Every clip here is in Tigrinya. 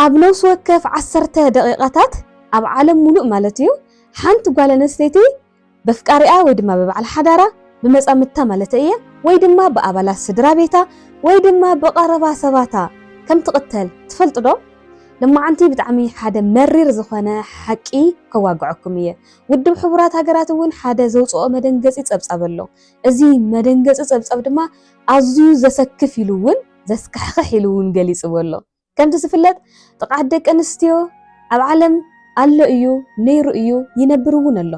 ኣብ ነፍሲ ወከፍ ዓሰርተ ደቒቓታት፣ ኣብ ዓለም ሙሉእ ማለት እዩ፣ ሓንቲ ጓል ኣነስተይቲ በፍቃሪኣ ወይ ድማ ብበዓል ሓዳራ፣ ብመጻምድታ ማለተይ እየ፣ ወይ ድማ ብኣባላት ስድራ ቤታ ወይ ድማ ብቐረባ ሰባታ ከም ትቕተል ትፈልጡ ዶ? ሎማዓንቲ ብጣዕሚ ሓደ መሪር ዝኾነ ሓቂ ከዋግዐኩም እየ። ውድብ ሕቡራት ሃገራት እውን ሓደ ዘውጽኦ መደንገጺ ጸብጻብ ኣሎ። እዚ መደንገጺ ጸብጻብ ድማ ኣዝዩ ዘሰክፍ ኢሉ እውን ዘስካሕኽሕ ኢሉ እውን ገሊጽዎ ኣሎ። ከምቲ ዝፍለጥ ጥቕዓት ደቂ ኣንስትዮ ኣብ ዓለም ኣሎ እዩ፣ ነይሩ እዩ፣ ይነብር እውን ኣሎ።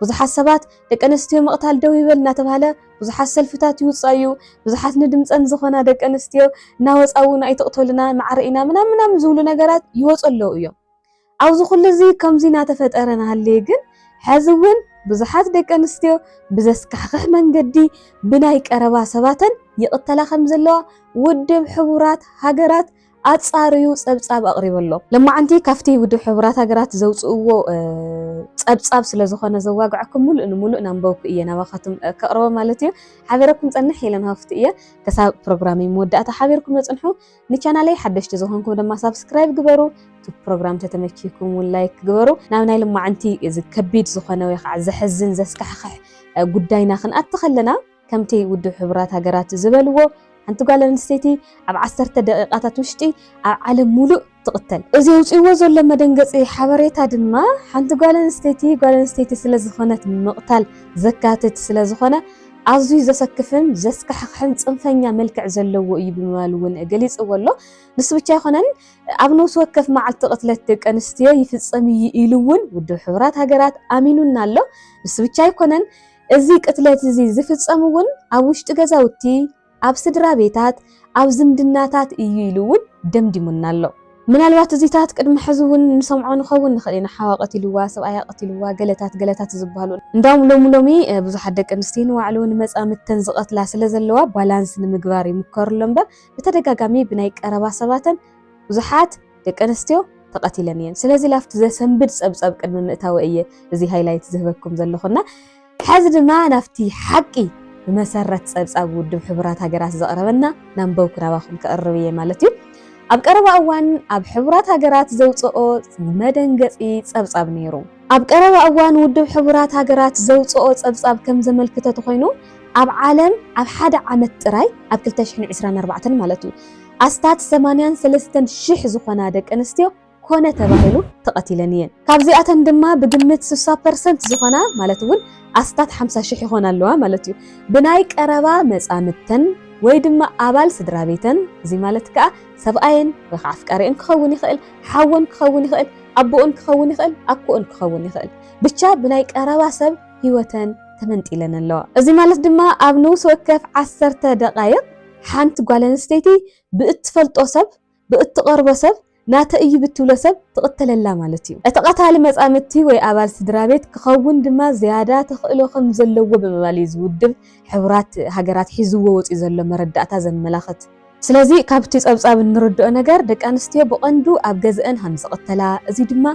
ብዙሓት ሰባት ደቂ ኣንስትዮ ምቕታል ደው ይበል እናተብሃለ ብዙሓት ሰልፍታት ይውፃ እዩ፣ ብዙሓት ንድምፀን ዝኾና ደቂ ኣንስትዮ እናወፃ እውን ኣይትቕተሉና፣ ማዕረ ኢና ምናምን ምናምን ዝብሉ ነገራት ይወፁ ኣለዉ እዮም። ኣብዚ ኩሉ እዚ ከምዚ ናተፈጠረ ናሃለየ ግን ሐዚ እውን ብዙሓት ደቂ ኣንስትዮ ብዘስካሕኽሕ መንገዲ ብናይ ቀረባ ሰባተን ይቕተላ ከምዘለዋ ውድብ ሕቡራት ሃገራት ኣጻርዩ ጸብጻብ ኣቕሪቡ ኣሎ። ለማዓንቲ ካብቲ ውድብ ሕቡራት ሃገራት ዘውጽእዎ ጸብጻብ ስለዝኾነ ዘዋግዐኩም ሙሉእ ንሙሉእ ናንበብኩ እየ ናባኻትኩም ከቕርቦ ማለት እዩ። ሓቢረኩም ጸንሕ ኢለን ሃፍቱ እየ። ክሳብ ፕሮግራመይ መወዳእታ ሓቢርኩምኒ ጽንሑ። ንቻናለይ ሓደሽቲ ዝኾንኩም ድማ ሳብስክራይብ ግበሩ እቲ ፕሮግራም ተተመኪኩም እውን ላይክ ግበሩ ናብ ናይ ልማዕንቲ እዚ ከቢድ ዝኾነ ወይ ከዓ ዘሕዝን ዘስካሕክሕ ጉዳይና ክንኣቲ ከለና ከምቲ ውድብ ሕቡራት ሃገራት ዝበልዎ ሓንቲ ጓል ኣንስተይቲ ኣብ ዓሰርተ ደቂቃታት ውሽጢ ኣብ ዓለም ሙሉእ ትቕተል እዚ ኣውፅዎ ዘሎ መደንገፂ ሓበሬታ ድማ ሓንቲ ጓል ኣንስተይቲ ጓል ኣንስተይቲ ስለ ዝኾነት ምቕታል ዘካትት ስለ ዝኾነ ኣዝዩ ዘሰክፍን ዘስካሕኽሕን ጽንፈኛ መልክዕ ዘለዎ እዩ ብምባል እውን ገሊጽዎ ኣሎ። ንሱ ብቻ ኣይኮነን ኣብ ነብሲ ወከፍ መዓልቲ ቅትለት ደቂ ኣንስትዮ ይፍጸም እዩ ኢሉ እውን ውድብ ሕቡራት ሃገራት ኣሚኑና ኣሎ። ንሱ ብቻ ኣይኮነን እዚ ቅትለት እዚ ዝፍጸም እውን ኣብ ውሽጢ ገዛውቲ፣ ኣብ ስድራ ቤታት፣ ኣብ ዝምድናታት እዩ ኢሉ እውን ደምዲሙና ኣሎ። ምናልባት እዚታት ቅድሚ ሕዚ እውን ንሰምዖ ንኸውን ንኽእል ኢና፣ ሓዋ ቀቲልዋ፣ ሰብኣያ ቀቲልዋ፣ ገለታት ገለታት ዝበሃሉ። እንዳውም ሎሚ ሎሚ ብዙሓት ደቂ ኣንስትዮ ንባዕሉ ንመጻምድተን ዝቐትላ ስለ ዘለዋ ባላንስ ንምግባር ይምከሩ ኣሎ እምበር ብተደጋጋሚ ብናይ ቀረባ ሰባተን ብዙሓት ደቂ ኣንስትዮ ተቐቲለን እየን። ስለዚ ላብቲ ዘሰንብድ ጸብጸብ ቅድሚ ምእታወይ እየ እዚ ሃይላይት ዝህበኩም ዘለኹ እና ሐዚ ድማ ናብቲ ሓቂ ብመሰረት ፀብፃብ ውድብ ሕቡራት ሃገራት ዘቕረበና ናንበብኩ ናባኹም ከቕርብ እየ ማለት እዩ። ኣብ ቀረባ እዋን ኣብ ሕቡራት ሃገራት ዘውፀኦ መደንገፂ ፀብፃብ ነይሩ። ኣብ ቀረባ እዋን ውድብ ሕቡራት ሃገራት ዘውፀኦ ፀብፃብ ከም ዘመልክተ ተኾይኑ ኣብ ዓለም ኣብ ሓደ ዓመት ጥራይ ኣብ ክልተ ሽሕን ዕስራን ኣርባዕተን ማለት እዩ ኣስታት ሰማንያን ሰለስተን ሽሕ ዝኾና ደቂ ኣንስትዮ ኮነ ተባሂሉ ተቐቲለን እየን። ካብዚኣተን ድማ ብግምት ስሳ ፐርሰንት ዝኾና ማለት እውን ኣስታት ሓምሳ ሽሕ ይኾና ኣለዋ ማለት እዩ ብናይ ቀረባ መጻምድተን ወይ ድማ ኣባል ስድራ ቤተን እዚ ማለት ከኣ ሰብኣየን ወይ ከዓ ኣፍቃሪኦን ክኸውን ይኽእል፣ ሓወን ክኸውን ይኽእል፣ ኣቦኦን ክኸውን ይኽእል፣ ኣኮኦን ክኸውን ይኽእል ብቻ ብናይ ቀረባ ሰብ ህይወተን ተመንጢለን ኣለዋ። እዚ ማለት ድማ ኣብ ንኡስ ወከፍ ዓሰርተ ደቓይቕ ሓንቲ ጓል ኣንስተይቲ ብእትፈልጦ ሰብ ብእትቐርቦ ሰብ ናተይ እዩ ብትብሎ ሰብ ትቕተለላ ማለት እዩ። እቲ ቀታሊ መጻምድቲ ወይ ኣባል ስድራቤት ክኸውን ድማ ዝያዳ ተኽእሎ ከም ዘለዎ ብምባል እዩ እዚ ውድብ ሕቡራት ሃገራት ሒዝዎ ወጺኡ ዘሎ መረዳእታ ዘመላኽት። ስለዚ ካብቲ ጸብጻብ እንርድኦ ነገር ደቂ ኣንስትዮ ብቐንዱ ኣብ ገዝኣን ሃም ዝቕተላ፣ እዚ ድማ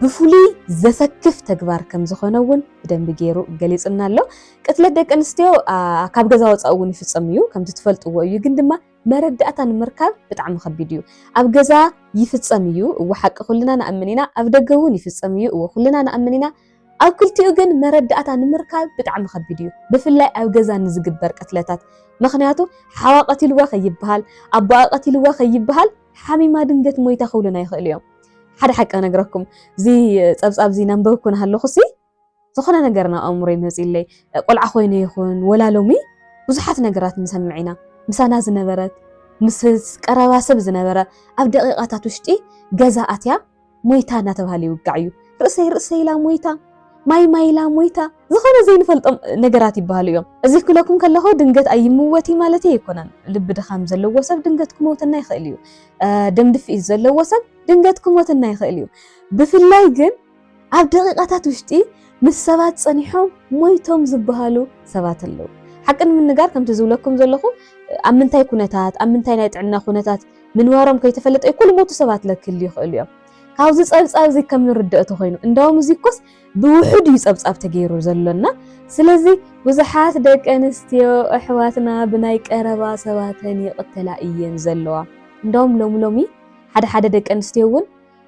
ብፍሉይ ዘሰክፍ ተግባር ከም ዝኾነ እውን ብደንቢ ገይሩ ገሊጹልና ኣሎ። ቅትለት ደቂ ኣንስትዮ ካብ ገዛ ወጻኢ እውን ይፍጸም እዩ፣ ከምቲ ትፈልጥዎ እዩ፣ ግን ድማ መረዳእታ ንምርካብ ብጣዕሚ ከቢድ እዩ ኣብ ገዛ ይፍጸም እዩ እወ ሓቂ ኩልና ንኣምን ኢና ኣብ ደገ እውን ይፍጸም እዩ እወ ኩልና ንኣምን ኢና ኣብ ክልቲኡ ግን መረዳእታ ንምርካብ ብጣዕሚ ከቢድ እዩ ብፍላይ ኣብ ገዛ ንዝግበር ቅትለታት ምክንያቱ ሓዋ ቀቲልዋ ከይበሃል ኣቦኣ ቀቲልዋ ከይበሃል ሓሚማ ድንገት ሞይታ ክብሉና ይኽእሉ እዮም ሓደ ሓቂ ነግረኩም እዚ ጸብጻብ እዚ ነንበብኩ ናሃለኹ ሲ ዝኾነ ነገር ናብ ኣእምሮይ መፂኡለይ ቆልዓ ኮይነ ይኹን ወላ ሎሚ ብዙሓት ነገራት ንሰምዕ ኢና ምሳና ዝነበረት ምስ ቀረባ ሰብ ዝነበረ ኣብ ደቂቃታት ውሽጢ ገዛ ኣትያ ሞይታ እናተባህለ ይውጋዕ እዩ ርእሰይ ርእሰይ ኢላ ሞይታ ማይ ማይ ኢላ ሞይታ ዝኾነ ዘይንፈልጦም ነገራት ይበሃሉ እዮም እዚ ክለኩም ከለኹ ድንገት ኣይምወቲ ማለት ኣይኮነን ልቢ ድኻም ዘለዎ ሰብ ድንገት ክመውተና ይኽእል እዩ ደም ድፍኢት ዘለዎ ሰብ ድንገት ክሞተና ይኽእል እዩ ብፍላይ ግን ኣብ ደቂቃታት ውሽጢ ምስ ሰባት ጸኒሖም ሞይቶም ዝበሃሉ ሰባት ኣለዉ። ሓቂ ንምንጋር ከምቲ ዝብለኩም ዘለኹ ኣብ ምንታይ ኩነታት ኣብ ምንታይ ናይ ጥዕና ኩነታት ምንባሮም ከይተፈለጠ እኮ ልሞቱ ሰባት ለክህልዩ ይኽእሉ እዮም። ካብዚ ጸብጻብ እዚ ከም ንርደኦ ተኾይኑ እንዳውም እዚ እኮስ ብውሑድ እዩ ጸብጻብ ተገይሩ ዘሎና ስለዚ ብዙሓት ደቂ ኣንስትዮ ኣሕዋትና ብናይ ቀረባ ሰባተን ይቕተላ እየን ዘለዋ። እንዳውም ሎሚ ሎሚ ሓደ ሓደ ደቂ ኣንስትዮ እውን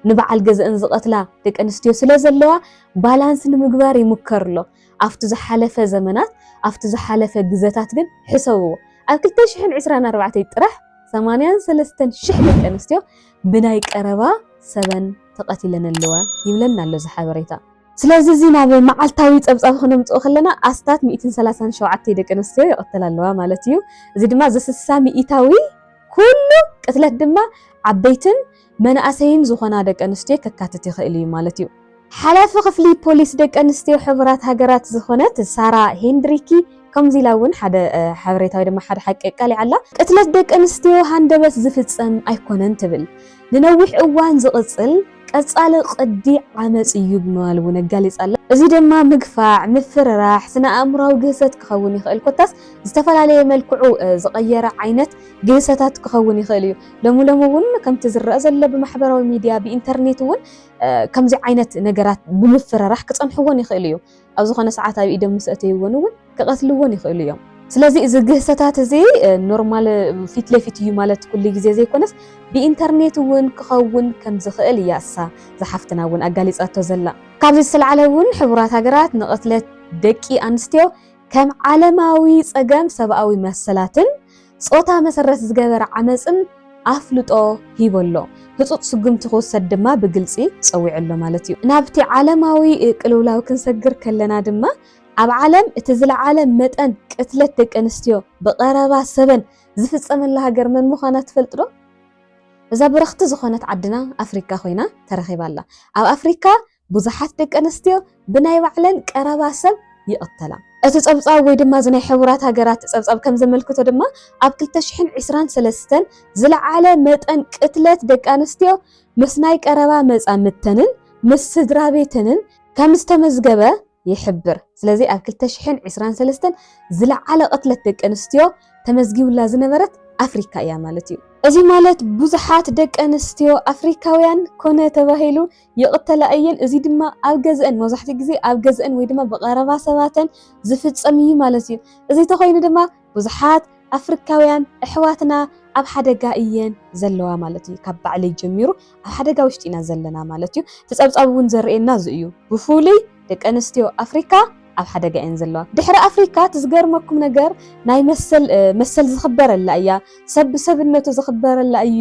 ንበዓል ገዝኣን ዝቐትላ ደቂ ኣንስትዮ ስለዘለዋ ባላንስ ንምግባር ይሙከር ኣሎ። ኣብቲ ዝሓለፈ ዘመናት ኣብቲ ዝሓለፈ ግዘታት ግን ሕሰብዎ ኣብ ክልተ ሽሕን ዕስራን ኣርባዕተይ ጥራሕ ሰማንያን ሰለስተን ሽሕ ደቂ ኣንስትዮ ብናይ ቀረባ ሰበን ተቐቲለን ኣለዋ ይብለና ኣሎ እዚ ሓበሬታ። ስለዚ እዚ ናብ መዓልታዊ ጸብጻብ ክነምጽኦ ከለና ኣስታት ሚእትን ሰላሳን ሸውዓተ ደቂ ኣንስትዮ ይቐተላ ኣለዋ ማለት እዩ። እዚ ድማ እዚ ስሳ ሚኢታዊ ኩሉ ቅትለት ድማ ዓበይትን መናእሰይን ዝኾና ደቂ ኣንስትዮ ከካትት ይኽእል እዩ ማለት እዩ። ሓላፊ ክፍሊ ፖሊስ ደቂ ኣንስትዮ ሕቡራት ሃገራት ዝኾነት ሳራ ሄንድሪኪ ከምዚ ኢላ እውን ሓደ ሓበሬታ ወይ ድማ ሓደ ሓቂ ኣቃሊዓ ኣላ። ቅትለት ደቂ ኣንስትዮ ሃንደበት ዝፍጸም ኣይኮነን ትብል። ንነዊሕ እዋን ዝቕጽል ቀጻሊ ቅዲ ዓመጽ እዩ ብምባል እውን ኣጋሊጻ ኣላ። እዚ ድማ ምግፋዕ፣ ምፍርራሕ፣ ስነ-ኣእምሮኣዊ ግህሰት ክኸውን ይኽእል፣ ኮታስ ዝተፈላለየ መልክዑ ዝቐየረ ዓይነት ግህሰታት ክኸውን ይኽእል እዩ። ሎሚ ሎሚ እውን ከምቲ ዝረኣ ዘሎ ብማሕበራዊ ሚድያ ብኢንተርኔት እውን ከምዚ ዓይነት ነገራት ብምፍርራሕ ክፀንሕዎን ይኽእሉ እዮም። ኣብ ዝኾነ ሰዓት ኣብ ኢዶም ምስ ኣእተይዎን እውን ክቐትልዎን ይኽእሉ እዮም። ስለዚ እዚ ግህሰታት እዚ ኖርማል ፊት ለፊት እዩ ማለት ኩሉ ግዜ ዘይኮነስ ብኢንተርኔት እውን ክኸውን ከምዝኽእል እያ እሳ እዛ ሓፍትና እውን ኣጋሊፃቶ ዘላ። ካብዚ ዝተልዓለ እውን ሕቡራት ሃገራት ንቕትለት ደቂ ኣንስትዮ ከም ዓለማዊ ፀገም ሰብኣዊ መሰላትን ጾታ መሰረት ዝገበረ ዓመጽን ኣፍልጦ ሂቡ ኣሎ። ህጹጽ ስጉምቲ ክውሰድ ድማ ብግልጺ ጸዊዑ ኣሎ ማለት እዩ። ናብቲ ዓለማዊ ቅልውላው ክንሰግር ከለና ድማ፣ ኣብ ዓለም እቲ ዝለዓለ መጠን ቅትለት ደቂ ኣንስትዮ ብቐረባ ሰበን ዝፍጸመላ ሃገር መን ምዃና ትፈልጡ ዶ? እዛ ብርኽቲ ዝኾነት ዓድና ኣፍሪካ ኮይና ተረኺባ ኣላ። ኣብ ኣፍሪካ ብዙሓት ደቂ ኣንስትዮ ብናይ ባዕለን ቀረባ ሰብ ይቕተላ። እቲ ጸብጻብ ወይ ድማ እዚ ናይ ሕቡራት ሃገራት ጸብጻብ ከም ዘመልክቶ ድማ ኣብ ክልተ ሽሕን ዕስራን ሰለስተን ዝለዓለ መጠን ቅትለት ደቂ ኣንስትዮ ምስ ናይ ቀረባ መጻምድተንን ምስ ስድራቤተንን ከም ዝተመዝገበ ይሕብር። ስለዚ ኣብ ክልተ ሽሕን ዕስራን ሰለስተን ዝለዓለ ቅትለት ደቂ ኣንስትዮ ተመዝጊቡላ ዝነበረት ኣፍሪካ እያ ማለት እዩ። እዚ ማለት ብዙሓት ደቂ ኣንስትዮ ኣፍሪካውያን ኮነ ተባሂሉ ይቕተላ እየን፣ እዚ ድማ ኣብ ገዝአን መብዛሕትኡ ግዜ ኣብ ገዝአን ወይ ድማ ብቐረባ ሰባተን ዝፍፀም እዩ ማለት እዩ። እዚ ተኾይኑ ድማ ብዙሓት ኣፍሪካውያን ኣሕዋትና ኣብ ሓደጋ እየን ዘለዋ ማለት እዩ። ካብ ባዕለይ ጀሚሩ ኣብ ሓደጋ ውሽጢ ኢና ዘለና ማለት እዩ። እቲ ፀብፃብ እውን ዘርእየና እዚ እዩ። ብፍሉይ ደቂ ኣንስትዮ ኣፍሪካ ኣብ ሓደጋ እየን ዘለዋ። ድሕሪ ኣፍሪካ እቲ ዝገርመኩም ነገር ናይ መሰል መሰል ዝኽበረላ እያ፣ ሰብ ብሰብነቱ ዝኽበረላ እዩ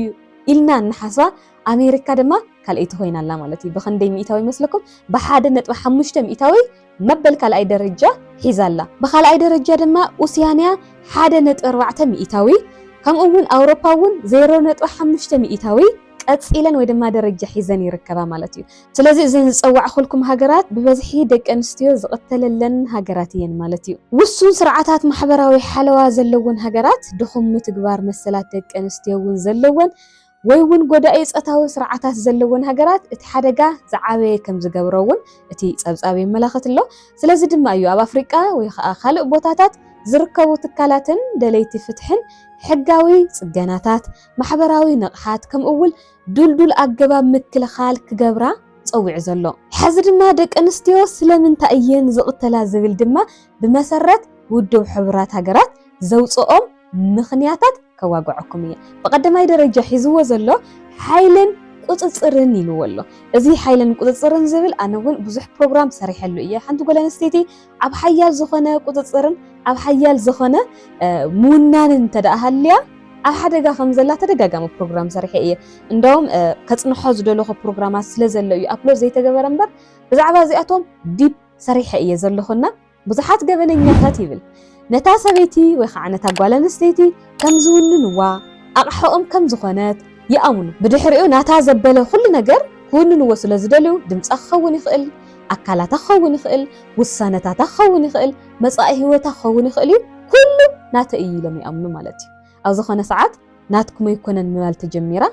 ኢልና እንሓስባ ኣሜሪካ ድማ ካልኣይቲ ኮይና ኣላ ማለት እዩ። ብኽንደይ ሚኢታዊ ይመስለኩም? ብሓደ ነጥቢ ሓሙሽተ ሚኢታዊ መበል ካልኣይ ደረጃ ሒዛ ኣላ። ብኻልኣይ ደረጃ ድማ ኡስያንያ ሓደ ነጥቢ ኣርባዕተ ሚኢታዊ ከምኡ እውን ኣውሮፓ እውን ዜሮ ነጥቢ ሓሙሽተ ሚኢታዊ ቀጺለን ወይ ድማ ደረጃ ሒዘን ይርከባ ማለት እዩ። ስለዚ እዘን ዝጸዋዕኹልኩም ሃገራት ብበዝሒ ደቂ ኣንስትዮ ዝቕተለለን ሃገራት እየን ማለት እዩ። ውሱን ስርዓታት ማሕበራዊ ሓለዋ ዘለወን ሃገራት ድኹም ምትግባር መሰላት ደቂ ኣንስትዮ እውን ዘለወን ወይ'ውን ጎዳኢ ጾታዊ ስርዓታት ዘለወን ሃገራት እቲ ሓደጋ ዝዓበየ ከም ዝገብሮ'ውን እቲ ጸብጻብ የመላኽት ኣሎ። ስለዚ ድማ እዩ ኣብ ኣፍሪቃ ወይ ኸኣ ካልእ ቦታታት ዝርከቡ ትካላትን ደለይቲ ፍትሕን ሕጋዊ ጽገናታት፣ ማሕበራዊ ንቕሓት ከምኡ'ውል ድልዱል ኣገባብ ምክልኻል ክገብራ ጸዊዑ ዘሎ። ሕዚ ድማ ደቂ ኣንስትዮ ስለምንታይ እየን ዝቕተላ ዝብል ድማ ብመሰረት ውድብ ሕቡራት ሃገራት ዘውጽኦም ምኽንያታት ከዋግዐኩም እየ። ብቐዳማይ ደረጃ ሒዝዎ ዘሎ ሓይልን ቁፅፅርን ኢልዎ ኣሎ። እዚ ሓይልን ቁፅፅርን ዝብል ኣነ እውን ብዙሕ ፕሮግራም ሰሪሐሉ እየ። ሓንቲ ጓል ኣንስተይቲ ኣብ ሓያል ዝኾነ ቁፅፅርን ኣብ ሓያል ዝኾነ ምውናንን እንተደኣ ሃልያ ኣብ ሓደጋ ከም ዘላ ተደጋጋሚ ፕሮግራም ሰሪሐ እየ። እንደውም ከፅንሖ ዝደለኹ ፕሮግራማት ስለ ዘሎ እዩ ኣፕሎድ ዘይተገበረ እምበር ብዛዕባ እዚኣቶም ዲፕ ሰሪሐ እየ ዘለኹና ብዙሓት ገበነኛታት ይብል ነታ ሰበይቲ ወይ ከዓ ነታ ጓል ኣንስተይቲ ከም ዝውንንዋ ኣቕሓኦም ከም ዝኾነት ይኣምኑ። ብድሕሪኡ ናታ ዘበለ ኩሉ ነገር ክውንንዎ ስለ ዝደልዩ ድምጻ ክኸውን ይኽእል፣ ኣካላታ ክኸውን ይኽእል፣ ውሳነታታ ክኸውን ይኽእል፣ መጻኢ ህይወታ ክኸውን ይኽእል'ዩ፣ ኩሉ ናተይ እዩ ኢሎም ይኣምኑ ማለት እዩ። ኣብ ዝኾነ ሰዓት ናትኩም ኣይኮነን ምባል ተጀሚራ።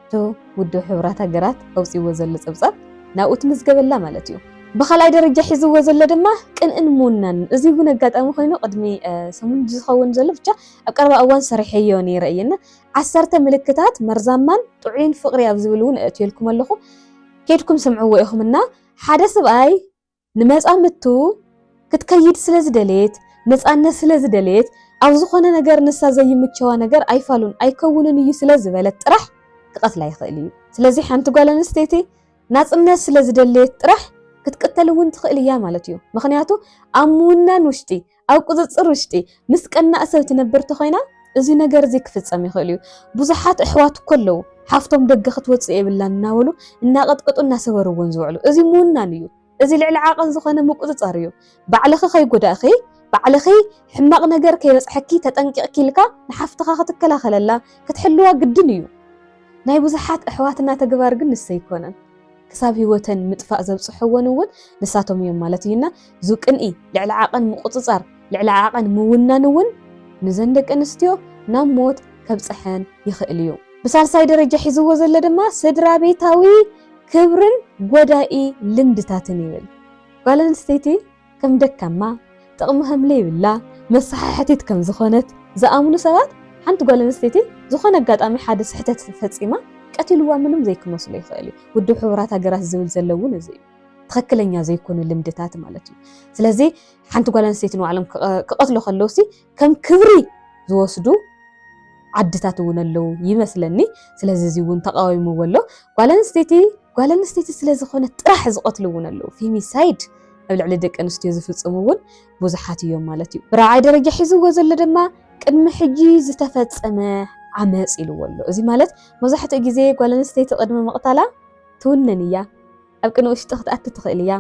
እቲ ውድብ ሕቡራት ሃገራት ኣውጺእዎ ዘሎ ጸብጻብ ናብኡ ትምዝገብ ኣላ ማለት እዩ። ብኻልኣይ ደረጃ ሒዝዎ ዘሎ ድማ ቅንእን ምውናንን። እዚ እውን ኣጋጣሚ ኮይኑ ቅድሚ ሰሙን ድዩ ዝኸውን ዘሎ ብቻ ኣብ ቀረባ እዋን ሰሪሐዮ ነይረ እየ እና ዓሰርተ ምልክታት መርዛማን ጥዑይን ፍቕሪ ኣብ ዝብል እውን ኣእትየልኩም ኣለኹ። ከይድኩም ስምዕዎ ኢኹም እና ሓደ ስብኣይ ንመጻምድቱ ክትከይድ ስለ ዝደለየት፣ ነጻነት ስለ ዝደለየት፣ ኣብ ዝኾነ ነገር ንሳ ዘይምቸዋ ነገር ኣይፋሉን ኣይከውንን እዩ ስለ ዝበለት ጥራሕ ክቐትላ ይኽእል እዩ። ስለዚ ሓንቲ ጓል ኣንስተይቲ ናጽነት ስለ ዝደለየት ጥራሕ ክትቅተል እውን ትኽእል እያ ማለት እዩ። ምኽንያቱ ኣብ ምውናን ውሽጢ ኣብ ቁጽጽር ውሽጢ ምስ ቀናእ ሰብ ትነብር ተኾይና እዚ ነገር እዚ ክፍጸም ይኽእል እዩ። ብዙሓት ኣሕዋት እኮ ኣለዉ ሓፍቶም ደገ ክትወጽእ የብላን እናበሉ እናቀጥቀጡ እናሰበርዎን ዝውዕሉ። እዚ ምውናን እዩ። እዚ ልዕሊ ዓቐን ዝኾነ ምቁጽጻር እዩ። ባዕልኺ ከይጎዳእኺ ባዕልኺ ሕማቕ ነገር ከይበጽሐኪ ተጠንቂቕኪ ኢልካ ንሓፍትኻ ክትከላኸለላ ክትሕልዋ ግድን እዩ። ናይ ብዙሓት ኣሕዋትና ተግባር ግን ንሱ ኣይኮነን። ክሳብ ህይወተን ምጥፋእ ዘብጽሕወን እውን ንሳቶም እዮም ማለት እዩ እና ዙ ቅንኢ ልዕሊ ዓቐን ምቑጽጻር ልዕሊ ዓቐን ምውናን እውን ንዘን ደቂ ኣንስትዮ ናብ ሞት ከብጽሐን ይኽእል እዩ። ብሳልሳይ ደረጃ ሒዝዎ ዘሎ ድማ ስድራቤታዊ ክብርን ጎዳኢ ልምድታትን ይብል ጓል ኣንስተይቲ ከም ደካማ፣ ጥቕሚ ከም ለይብላ፣ መሳሓሕቲት ከም ዝኾነት ዝኣምኑ ሰባት ሓንቲ ጓል ኣንስተይቲ ዝኾነ ኣጋጣሚ ሓደ ስሕተት ፈጺማ ቀቲልዋ ምንም ዘይክመስሎ ይኽእል እዩ። ውድብ ሕቡራት ሃገራት ዝብል ዘሎ እውን እዚ እዩ። ትኽክለኛ ዘይኮኑ ልምድታት ማለት እዩ። ስለዚ ሓንቲ ጓል ኣንስተይቲ ንባዕሎም ክቐትሉ ከለውሲ ከም ክብሪ ዝወስዱ ዓድታት እውን ኣለዉ ይመስለኒ። ስለዚ እዚ እውን ተቃዊምዎ ኣሎ። ጓል ኣንስተይቲ ጓል ኣንስተይቲ ስለ ዝኾነት ጥራሕ ዝቐትሉ እውን ኣለዉ። ፌሚሳይድ ኣብ ልዕሊ ደቂ ኣንስትዮ ዝፍጽሙ እውን ብዙሓት እዮም ማለት እዩ። ብራብዓይ ደረጃ ሒዝዎ ዘሎ ድማ ቅድሚ ሕጂ ዝተፈጸመ ዓመጽ ኢልዎ ኣሎ። እዚ ማለት መብዛሕትኡ ግዜ ጓል ኣንስተይቲ ቅድሚ ምቕታላ ትውንን እያ። ኣብ ቅነ ውሽጢ ክትኣቲ ትኽእል እያ።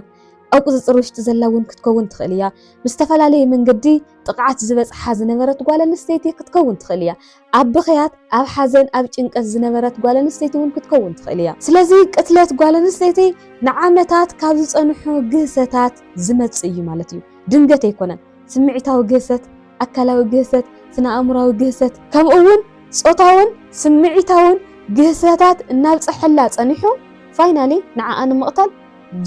ኣብ ቁጽጽር ውሽጢ ዘላ እውን ክትከውን ትኽእል እያ። ብዝተፈላለየ መንገዲ ጥቕዓት ዝበጽሓ ዝነበረት ጓል ኣንስተይቲ ክትከውን ትኽእል እያ። ኣብ ብኽያት፣ ኣብ ሓዘን፣ ኣብ ጭንቀት ዝነበረት ጓል ኣንስተይቲ እውን ክትከውን ትኽእል እያ። ስለዚ ቅትለት ጓል ኣንስተይቲ ንዓመታት ካብ ዝጸንሑ ግህሰታት ዝመጽእ እዩ ማለት እዩ። ድንገት ኣይኮነን። ስምዒታዊ ግህሰት፣ ኣካላዊ ግህሰት፣ ስነ-ኣእምሮኣዊ ግህሰት፣ ከምኡ'ውን ጾታውን ስምዒታውን ግህሰታት እናብጸሐላ ጸኒሑ ፋይናሊ ንዓኣ ንምቕታል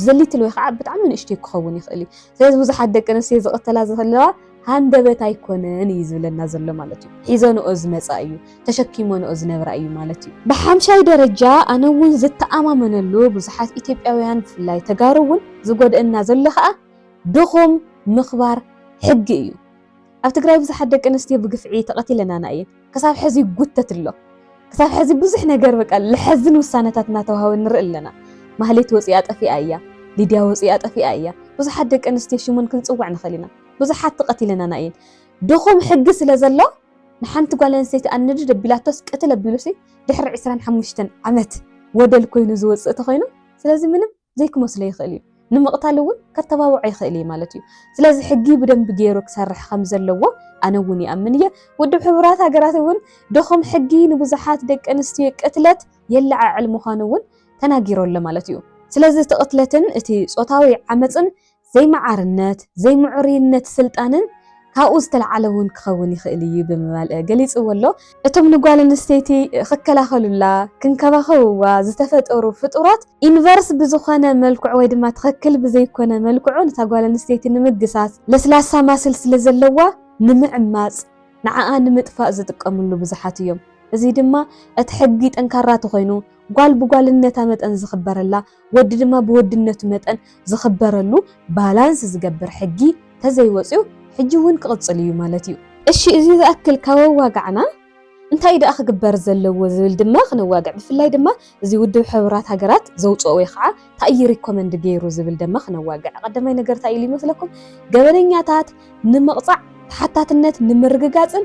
ዘሊትል ወይ ኸዓ ብጣዕሚ ንእሽተይ ክኸውን ይኽእል እዩ። ስለዚ ብዙሓት ደቂ ኣንስትዮ ዝቕተላ ዘለዋ ሃንደበት ኣይኮነን እዩ ዝብለና ዘሎ ማለት እዩ። ሒዘንኦ ዝመጻ እዩ፣ ተሸኪመንኦ ዝነብራ እዩ ማለት እዩ። ብሓምሻይ ደረጃ ኣነ እውን ዝተኣማመነሉ ብዙሓት ኢትዮጵያውያን ብፍላይ ተጋሩ እውን ዝጎድእና ዘሎ ኸዓ፣ ድኹም ምኽባር ሕጊ እዩ። ኣብ ትግራይ ብዙሓት ደቂ ኣንስትዮ ብግፍዒ ተቐቲለናና እየን። ክሳብ ሐዚ ይጉተት ኣሎ። ክሳብ ሐዚ ብዙሕ ነገር በቃ ለሐዝን ውሳነታት እናተውሃበ ንርኢ ኣለና። ማህሌት ወፂኣ ጠፊኣ እያ። ሊድያ ወፂኣ ጠፊኣ እያ። ብዙሓት ደቂ ኣንስትዮ ሽሙን ክንፅውዕ ንኽእል ኢና። ብዙሓት ተቐቲለናና እየን። ድኹም ሕጊ ስለ ዘሎ ንሓንቲ ጓል ኣንስተይቲ ኣንድድ ኣቢላቶስ ቅትል ኣቢሉሲ ድሕሪ ዕስራን ሓሙሽተን ዓመት ወደል ኮይኑ ዝወፅእ ተኾይኑ ስለዚ ምንም ዘይክመስሎ ይኽእል እዩ። ንምቕታል እውን ከተባብዖ ይኽእል እዩ ማለት እዩ። ስለዚ ሕጊ ብደንቢ ገይሩ ክሰርሕ ከም ዘለዎ ኣነ እውን ይኣምን እየ። ውድብ ሕቡራት ሃገራት እውን ድኹም ሕጊ ንብዙሓት ደቂ ኣንስትዮ ቅትለት የለዓዕል ምዃኑ እውን ተናጊሩ ኣሎ ማለት እዩ። ስለዚ እቲ ቅትለትን እቲ ጾታዊ ዓመጽን ዘይመዓርነት፣ ዘይምዕሩይነት ስልጣንን ካብኡ ዝተልዓለ እውን ክኸውን ይኽእል እዩ ብምባል ገሊጽዎ ኣሎ። እቶም ንጓል ኣንስተይቲ ክከላኸሉላ፣ ክንከባኸብዋ ዝተፈጠሩ ፍጡራት፣ ኢንቨርስ ብዝኾነ መልክዑ ወይ ድማ ትኽክል ብዘይኮነ መልክዑ ነታ ጓል ኣንስተይቲ ንምግሳጽ ለስላሳ ማስል ስለ ዘለዋ፣ ንምዕማጽ፣ ንዓኣ ንምጥፋእ ዝጥቀምሉ ብዙሓት እዮም። እዚ ድማ እቲ ሕጊ ጠንካራ ተኾይኑ፣ ጓል ብጓልነታ መጠን ዝኽበረላ፣ ወዲ ድማ ብወድነቱ መጠን ዝኽበረሉ ባላንስ ዝገብር ሕጊ ተዘይወፅዩ ሕጂ እውን ክቕፅል እዩ ማለት እዩ። እሺ እዚ ዝኣክል ካብ ኣዋጋዕና እንታይ እዩ ደኣ ክግበር ዘለዎ ዝብል ድማ ክነዋግዕ ብፍላይ ድማ እዚ ውድብ ሕቡራት ሃገራት ዘውፀኦ ወይ ኸዓ ታይ እዩ ሪኮመንድ ገይሩ ዝብል ደማ ክነዋግዕ ቐደማይ ነገር ታይ ኢሉ እዩ መስለኩም ገበነኛታት ንምቕፃዕ ተሓታትነት ንምርግጋፅን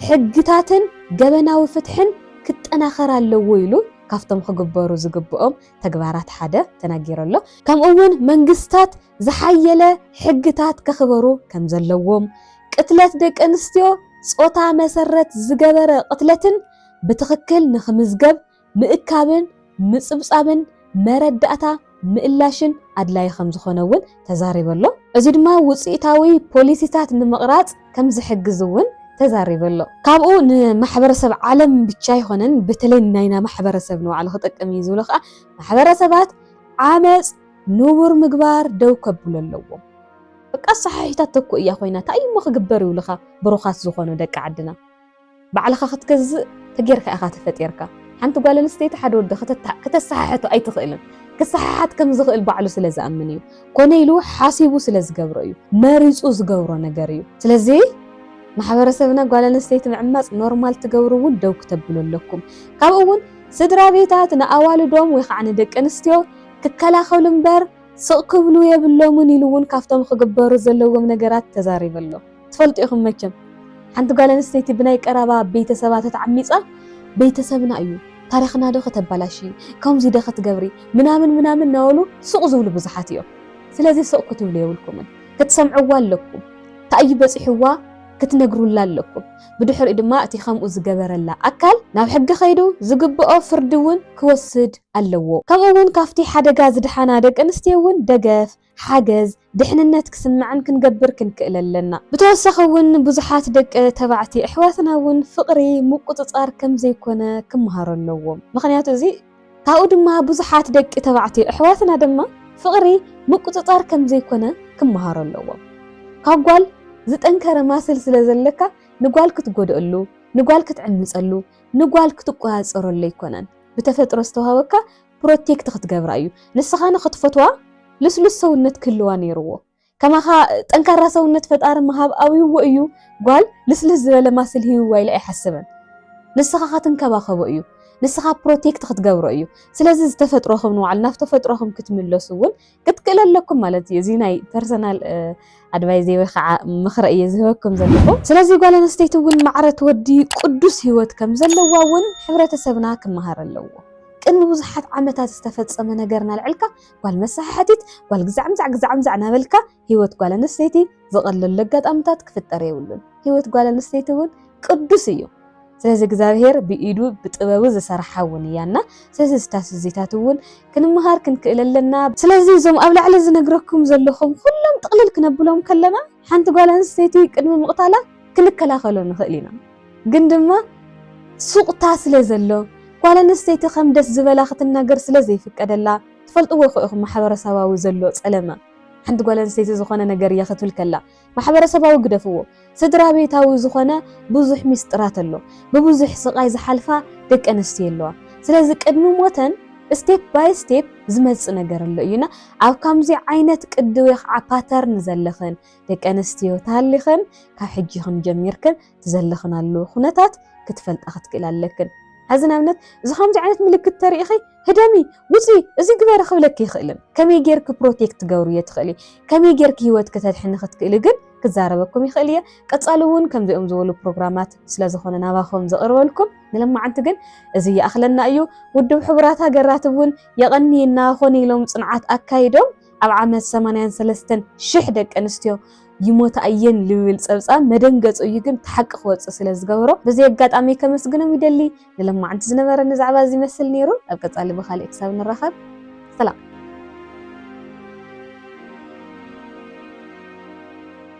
ሕግታትን ገበናዊ ፍትሕን ክጠናኸር ኣለዎ ኢሉ ካፍቶም ክግበሩ ዝግብኦም ተግባራት ሓደ ተናጊሩ ኣሎ። ከምኡ እውን መንግስታት ዝሓየለ ሕግታት ከኽበሩ ከም ዘለዎም፣ ቅትለት ደቂ ኣንስትዮ ፆታ መሰረት ዝገበረ ቅትለትን ብትኽክል ንክምዝገብ ምእካብን ምፅብፃብን መረዳእታ ምእላሽን ኣድላዪ ከም ዝኾነ እውን ተዛሪበሎ። እዚ ድማ ውፅኢታዊ ፖሊሲታት ንምቕራፅ ከምዝሕግዝ እውን ተዛሪበሎ። ካብኡ ንማሕበረሰብ ዓለም ብቻ ኣይኾነን በተለይ ናይና ማሕበረሰብ ንባዕሉ ክጠቅም እዩ ዝብሎ ከዓ ማሕበረሰባት ዓመፅ ንቡር ምግባር ደው ከብሉ ኣለዎም። በቃ ኣሰሓሒታት ተኩ እያ ኮይና ታይ እሞ ክግበር ይብሉኻ ብሩኻት ዝኾኑ ደቂ ዓድና። ባዕልኻ ክትገዝእ ተጌርካ ኢኻ ተፈጢርካ። ሓንቲ ጓል ኣንስተይቲ ሓደ ወዲ ከተሰሓሕቶ ኣይትኽእልን። ክሰሓሓት ከም ዝኽእል ባዕሉ ስለ ዝኣምን እዩ። ኮነ ኢሉ ሓሲቡ ስለ ዝገብሮ እዩ። መሪጹ ዝገብሮ ነገር እዩ። ስለዚ ማሕበረሰብና ጓል ኣንስተይቲ ምዕማጽ ኖርማል ትገብሩ እውን ደው ክተብሉ ኣለኩም። ካብኡ እውን ስድራ ቤታት ንኣዋልዶም ወይ ከዓ ንደቂ ኣንስትዮ ክከላኸሉ እምበር ስቕ ክብሉ የብሎምን ኢሉ እውን ካብቶም ክግበሩ ዘለዎም ነገራት ተዛሪቡ ኣሎ። ትፈልጡ ኢኹም መቸም ሓንቲ ጓል ኣንስተይቲ ብናይ ቀራባ ቤተሰባ ተተዓሚጻ ቤተሰብና እዩ ታሪኽና ዶ ከተባላሽዪ ከምዚ ዶ ክትገብሪ ምናምን ምናምን ናበሉ ሱቕ ዝብሉ ብዙሓት እዮም ስለዚ ሱቕ ክትብሉ የብልኩምን ክትሰምዕዋ ኣለኩም ታእዩ በጺሕዋ ክትነግሩላ ኣለኩም ብድሕሪኡ ድማ እቲ ከምኡ ዝገበረላ ኣካል ናብ ሕጊ ከይዱ ዝግብኦ ፍርዲ እውን ክወስድ ኣለዎ ከምኡ እውን ካብቲ ሓደጋ ዝድሓና ደቂ ኣንስትዮ እውን ደገፍ ሓገዝ፣ ድሕንነት ክስምዐን ክንገብር ክንክእል ኣለና። ብተወሳኺ እውን ብዙሓት ደቂ ተባዕትዮ ኣሕዋትና እውን ፍቕሪ ምቁጽጻር ከም ዘይኮነ ክመሃሩ ኣለዎም። ምኽንያቱ እዚ ካብኡ ድማ ብዙሓት ደቂ ተባዕትዮ ኣሕዋትና ድማ ፍቕሪ ምቁጽጻር ከም ዘይኮነ ክመሃሩ ኣለዎም። ካብ ጓል ዝጠንከረ ማስል ስለ ዘለካ ንጓል ክትጎድኣሉ፣ ንጓል ክትዕምጸሉ፣ ንጓል ክትቆጻጸረሉ ኣይኮነን። ብተፈጥሮ ዝተዋህበካ ፕሮቴክት ክትገብራ እዩ ንስኻ ንኽትፈትዋ ልስሉስ ሰውነት ክህልዋ ነይርዎ ከማኻ ጠንካራ ሰውነት ፈጣሪ ምሃብ ኣብይዎ እዩ ጓል ልስልስ ዝበለ ማስል ሂብዋ ኢለ ኣይሓስብን ንስኻ ከትንከባኸቦ እዩ ንስኻ ፕሮቴክት ክትገብሮ እዩ ስለዚ ዝተፈጥሮኽም ንባዕሉ ናብ ተፈጥሮኽም ክትምለሱ እውን ክትክእለ ኣለኩም ማለት እዩ። እዚ ናይ ፐርሰናል ኣድቫይዝ ወይ ከዓ ምኽረ እየ ዝህበኩም ዘለኹ። ስለዚ ጓል ኣንስተይቲ እውን ማዕረ ትወዲ ቅዱስ ህይወት ከም ዘለዋ እውን ሕብረተሰብና ክመሃር ኣለዎ። ቅድሚ ብዙሓት ዓመታት ዝተፈጸመ ነገር ናልዕልካ ጓል መሰሓሓቲት ጓል ግዛዕምዛዕ ግዛዕምዛዕ ናበልካ ህይወት ጓል ኣንስተይቲ ዝቐለሉ ኣጋጣምታት ክፍጠር የብሉን። ህይወት ጓል ኣንስተይቲ እውን ቅዱስ እዩ። ስለዚ እግዚኣብሔር ብኢዱ ብጥበቡ ዝሰራሓ እውን እያ እና ስለዚ ስታፍ እዚታት እውን ክንምሃር ክንክእል ኣለና። ስለዚ እዞም ኣብ ላዕሊ ዝነግረኩም ዘለኹም ኩሎም ጥቕልል ክነብሎም ከለና ሓንቲ ጓል ኣንስተይቲ ቅድሚ ምቕታላ ክንከላኸሎ ንኽእል ኢና። ግን ድማ ሱቕታ ስለ ዘሎ ጓል ኣንስተይቲ ከም ደስ ዝበላ ክትናገር ስለ ዘይፍቀደላ ትፈልጥዎ እኮ ኢኹም ማሕበረሰባዊ ዘሎ ፀለመ ሓንቲ ጓል ኣንስተይቲ ዝኾነ ነገር እየ ክትብል ከላ ማሕበረሰባዊ ግደፍዎ ስድራቤታዊ ዝኾነ ብዙሕ ሚስጥራት ኣሎ ብብዙሕ ስቃይ ዝሓልፋ ደቂ ኣንስትዮ ኣለዋ ስለዚ ቅድሚ ሞተን step by step ዝመጽእ ነገር ኣሎ እዩ እና ኣብ ካምዚ ዓይነት ቅዲ ወይ ከዓ pattern ዘለኽን ደቂ ኣንስትዮ ተሃሊኽን ካብ ሕጂ ክንጀሚርክን እቲ ዘለኽናሉ ኩነታት ክትፈልጣ ክትክእል ኣለክን። ሐዚ ንኣብነት እዚ ከምዚ ዓይነት ምልክት ተሪኢኺ ህደሚ ውፂ እዚ ግበሪ ክብለኪ ይኽእልን ከመይ ጌርኪ ፕሮቴክት ትገብርዮ ትኽእሊ ከመይ ጌርኪ ሂወት ክተድሕኒ ክትክእሊ ግን ክዛረበኩም ይኽእል እየ ቀፃሊ እውን ከምዚኦም ዝበሉ ፕሮግራማት ስለዝኾነ ናባኹም ዘቕርበልኩም ንለማዓንቲ ግን እዚ ይኣኽለና እዩ ውድብ ሕቡራት ሃገራት እውን የቐንየና ኮነ ኢሎም ፅንዓት ኣካይዶም ኣብ ዓመት ሰማንያን ሰለስተን ሽሕ ደቂ ኣንስትዮ ይሞታ እየን ልብል ጸብጻብ መደንገጹ እዩ ግን እቲ ሓቂ ክወጽእ ስለ ዝገበሮ በዚ ኣጋጣሚ ከመስግኖም ይደሊ። ንሎማዓንቲ ዝነበረኒ ዛዕባ እዚ ይመስል ነይሩ። ኣብ ቀጻሊ ብኻልእ ክሳብ ንራኸብ ሰላም።